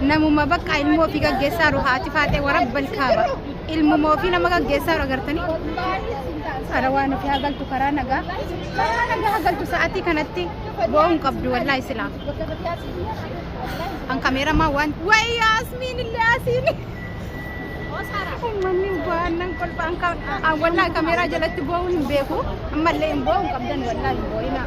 namuma bakka ilmoo ofii gaggeessaa jiru haati faaxee warabbal kaaba ilmuma ofii nama gaggeessaa jiru agartanii karaa waan ofii hagaltu karaa nagaa karaa nagaa hagaltu sa'aatii kanatti bo'oo hin qabdu wallaahi silaa kan kameeramaa waan wayi yaasmiin illee asiin ummanni baannan kolfaan kan wallaahi kameeraa jalatti bo'uun hin beeku ammallee hin bo'uun qabdan wallaahi hin bo'inaa.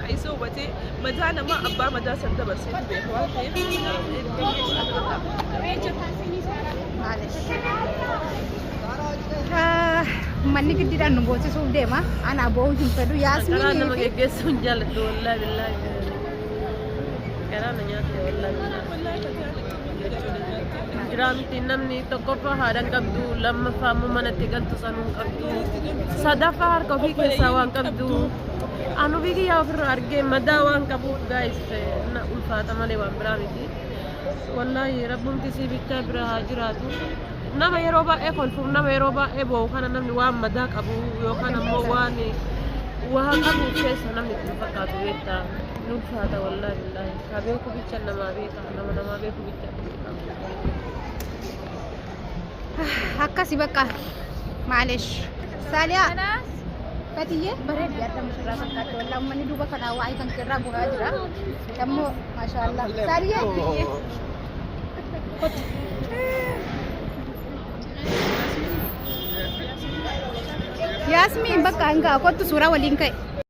Ka isa hubate madaa namaa abbaa madaa san dabarseetu beeka waan ta'eef Manni giddiidhaan nu boosisuuf deema. Ana boo'uu hin fedhu. Karaa nama Yaasmiin fi geggeessuu hin jaalladhu wallaahi billaahi. Karaa na nyaatte wallaahi billaahi. Jiraa miti namni tokkoffaa haadhan qabdu lammaffaa immoo manatti galtu sanuu hin qabdu sadaffaa harka ofii keessaa waan qabdu. Anu bigi yaa ofirra argee madaa waan qabuuf gaayis na ulfaata malee waan biraa miti. Wallaahi rabbumti sii bichaa bira haa jiraatu. Nama yeroo baay'ee kolfuuf nama yeroo baay'ee boo'u kana namni waan madaa qabu yookaan ammoo waan waa qabu keessa namni itti hin fakkaatu beekta. Ni ulfaata wallaahi billaahi. Haa beeku bicha namaa beeka nama namaa beeku bicha. akkasi bakka maalesh saaliyaa batiyyee bareeddi adda mushirraa fakkaatti walaa ummanni duuba kanaa waa'ee kan keerraa bu'aa jira dammoo maashaallah saaliyaa yaasmiin bakka hangaa kottu suuraa waliin ka'e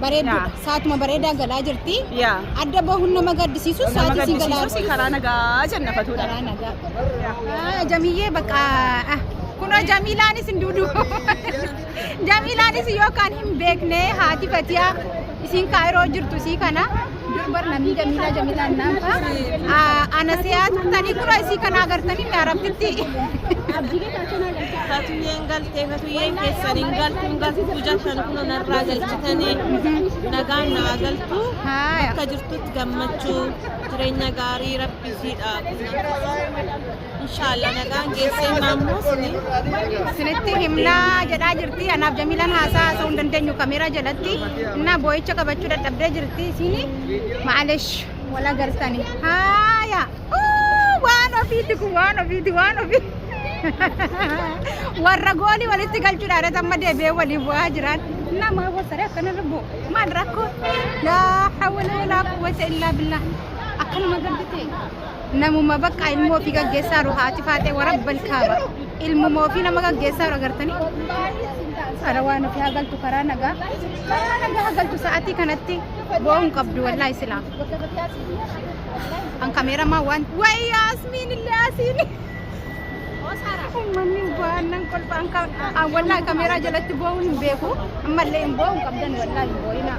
Bareedduudha. Yaa. Saatuma bareedaa galaa jirti. Yaa. Adda bahuun nama gaddisiisu Nama sa'aatii isin galaa gaddisiisuus jirti. karaa nagaa jenna fatuudha. Karaa nagaa. Ah, Jamiyyee bakka ah, kunoo Jamiilaanis hin duudu. Jamiilaanis yookaan hin beekne haati Fatiyaa isiin kaayiroo jirtu isii kana. durbar namni jamiilaa jamiilaan naanfa ana siyaas tanii kura isii kana agartanii mi arabbitti Fatuyyeen galtee fatuyyeen keessan hin galtu hin galtu jechan kun narraa galchitanii nagaan naa galtu Haaya. bakka jirtutti gammachuu jireenya gaarii rabbi siidhaa. Inshaallah nagaan geessee maammoo sini. Sinitti himnaa jedhaa jirti. Anaaf Jamiilaan haasaa haasa'uu hin dandeenyu kameeraa jalatti. Innaa boo'icha qabachuu dadhabdee jirti. Isini maalesh wal agarsani. Haaya! Uu, Waan ofiiti kun waan ofiiti waan ofii. Warra goolii walitti galchuudhaan irratti amma deebi'ee waliin bu'aa jiran. Innaa maa wasaree akkanarra bu'u. Maal rakkoo? Laa hawwala laa quwwata illaa billaa. Akkanuma gardite. namuma bakka ilmoo ofii gaggeessaa jiru haati faaxee warabbal kaaba ilmuma ofii nama gaggeessaa jiru agartanii kara waan ofii hagaltu karaa nagaa karaa nagaa hagaltu sa'atii kanatti bo'uun qabdu wallaahi silaa an kameeramaa waan wayi yaasmiin illee asiin ummanni baannan kolfaan kan an wallaahi kameeraa jalatti bo'uun hin beeku ammallee hin bo'uun qabdan wallaahi hin bo'inaa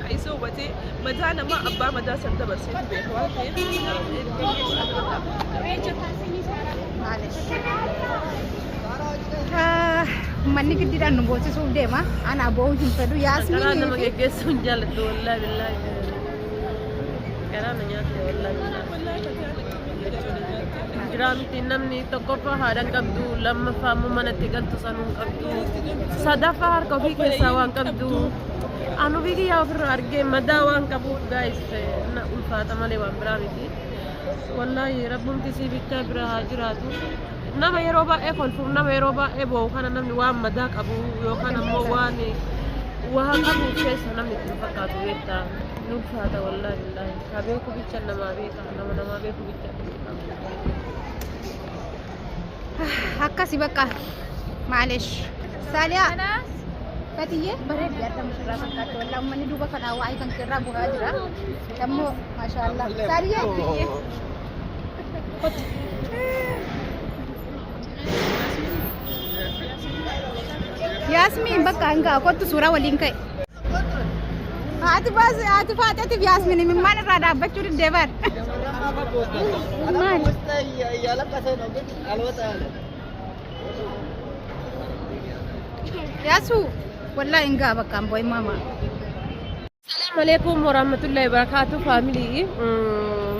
Ka isa hubatee madaa namaa abbaa madaa san dabarseetu beeka waan ta'eef Manni giddiidhaan nu boosisuuf deema. Anaa boo'uu hin fedhu. Karaa nama Yaasmiin geggeessuu hin jaalladhu wallaahi billaahi. Karaa na nyaatte wallaahi billaahi. Jiraa miti namni tokkoffaa haadha hin qabdu lammaffaa immoo manatti galtu sanuu hin qabdu sadaffaa harka ofii keessaa waan qabdu. An ofii kiyyaa ofirra argee madaa waan qabuuf gaayis na ulfaata malee waan biraa miti. Wallaahi rabbumti sii bichaa bira haa jiraatu. Nama yeroo baay'ee kolfuuf nama yeroo baay'ee boo'u kana namni waan madaa qabu yookaan ammoo waan waa qabu keessa namni itti hin fakkaatu beektaa. Ni ulfaata wallaahi billaahi. Haa beeku bicha namaa beeka nama namaa beeku bicha. akkasi bakka maalesh saaliyaa batiyyee bareeddi adda mushirraa fakkaatti walaa ummanni duuba kanaa waa'ee kan keerraa bu'aa jira dammoo maashaallah saaliyaa kotti yaasmiin bakka hangaa kottu suuraa waliin ka'e Haati baas haati faaxeetiif yaasmin imimmaan irraa dhaabbachuu diddee bar. Maal? Yaasu wallaa hin gaa bakka amboo hin maamaa. Assalamu alaikum warahmatullahi wabarakatuh family. Mm,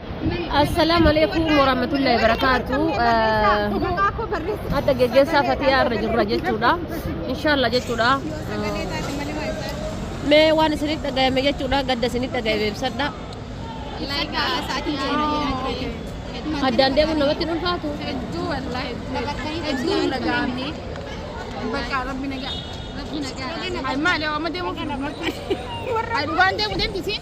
Assalaamu alaikum warahmatullahi wabarakaatu. Adda geggeessaa fatiyaa irra jirra jechuudha. Inshaallah jechuudha. Mee waan isinitti dhagayame jechuudha gadda isinitti dhagayame ibsadha. Addaan deemuun namatti hin ulfaatu. Hedduu wallaahi hedduu hin dhaga'amne. Bakka rabbi nagaa. Rabbi nagaa. Maali amma deemuuf. Dhugaan deemu deemtisiin.